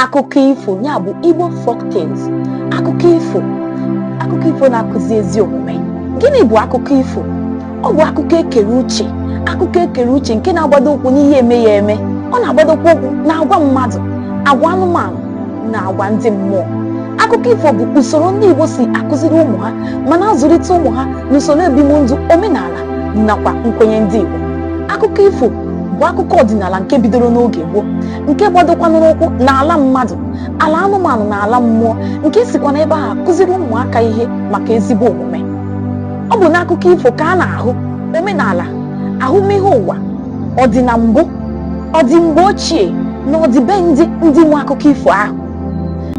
akụkọ ifo ya bụ Igbo folk tales akụkọ ifo akụkọ ifo na-akụzi ezi omume gịnị bụ akụkọ ifo ọ bụ akụkọ ekere uche akụkọ ekere uche nke na-agbado ụkwụ n'ihe eme ya eme ọ na-agbadokwa ụkwụ na agwa mmadụ agwa anụmanụ na agwa ndị mmụọ akụkọ ifo bụ usoro ndị Igbo si akụziri ụmụ ha ma na-azụlite ụmụ ha n'usoro ebimndụ omenala nakwa nkwenye ndị Igbo akụkọ ifo bụ akụkọ ọdịnala nke bidoro n'oge gboo nke gbadokwanụrụ ụkwụ n'ala mmadụ ala anụmanụ na ala mmụọ nke sikwa n'ebe ahụ akụziri ụmụaka ihe maka ezigbo omume ọ bụ n'akụkọ ifo ka a na-ahụ omenala ahụmịhe ụwa ọdị na mbụ ọdị mgbe ochie na ọdịbendị ndị nwe akụkọ ifo ahụ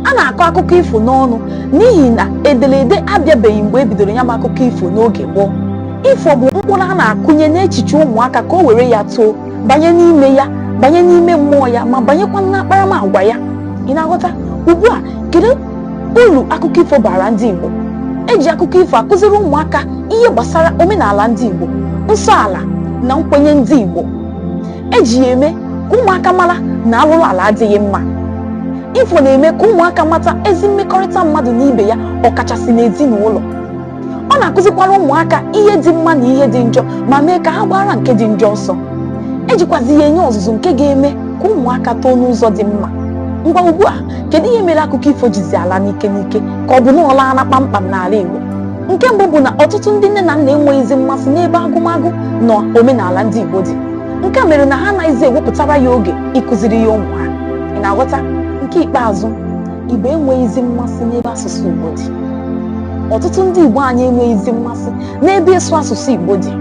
a na-akọ akụkọ ifo n'ọnụ n'ihi na ederede abịabeghị mgbe e bidoro ya bụ akụkọ ifo n'oge gboo ifo bụ mkpụrụ a na-akụnye n'echiche ụmụaka ka o were ya too banye n'ime ya banye n'ime mmụọ ya ma banyekwa n'akparamagwa ya ị na-aghọta ugbu a kedu uru akụkọ ifo baara ndị Igbo eji akụkọ ifo akụziri ụmụaka ihe gbasara omenala ndị Igbo nsọ ala na nkwenye ndị Igbo eji ya eme ka ụmụaka mara na alụrụ ala adịghị mma ifo na-eme ka ụmụaka mata ezi mmekọrịta mmadụ na ibe ya ọkachasị n'ezinụlọ ọ na-akụzikwara ụmụaka ihe dị mma na ihe dị njọ ma mee ka ha gbaara nke dị njọ ọsọ ejikwazi ya enye ọzụzụ nke ga-eme ka ụmụaka too n'ụzọ dị mma ngwa ugbu a kedu ihe mere akụkọ ifo jizi ala n'ike n'ike ka ọ bụ na ọ laala kpamkpam n'ala Igbo nke mbụ bụ na ọtụtụ ndị nne na nna enweghịzi mmasị n'ebe agụmagụ na omenala ndị Igbo dị nke a mere na ha anaghịzi ewepụtara ya oge ịkụziri ya ụmụ ha ị na-aghọta nke ikpeazụ Igbo enweghịzi mmasị n'ebe asụsụ Igbo dị ọtụtụ ndị Igbo anyị enweghịzi mmasị n'ebe ịsụ asụsụ Igbo dị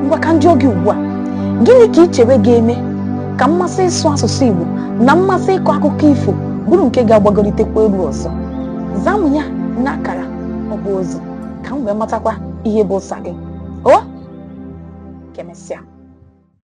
ngwa ka m jụọ gị ugbu a gịnị ka i chere ga-eme ka mmasị ịsụ asụsụ Igbo na mmasị ịkọ akụkọ ifo bụrụ nke ga-agbagolitekwa elu ọzọ zaa m ya n'akara ọ bụ ozi ka m wee matakwa ihe bụ ụsa gị o ka emesịa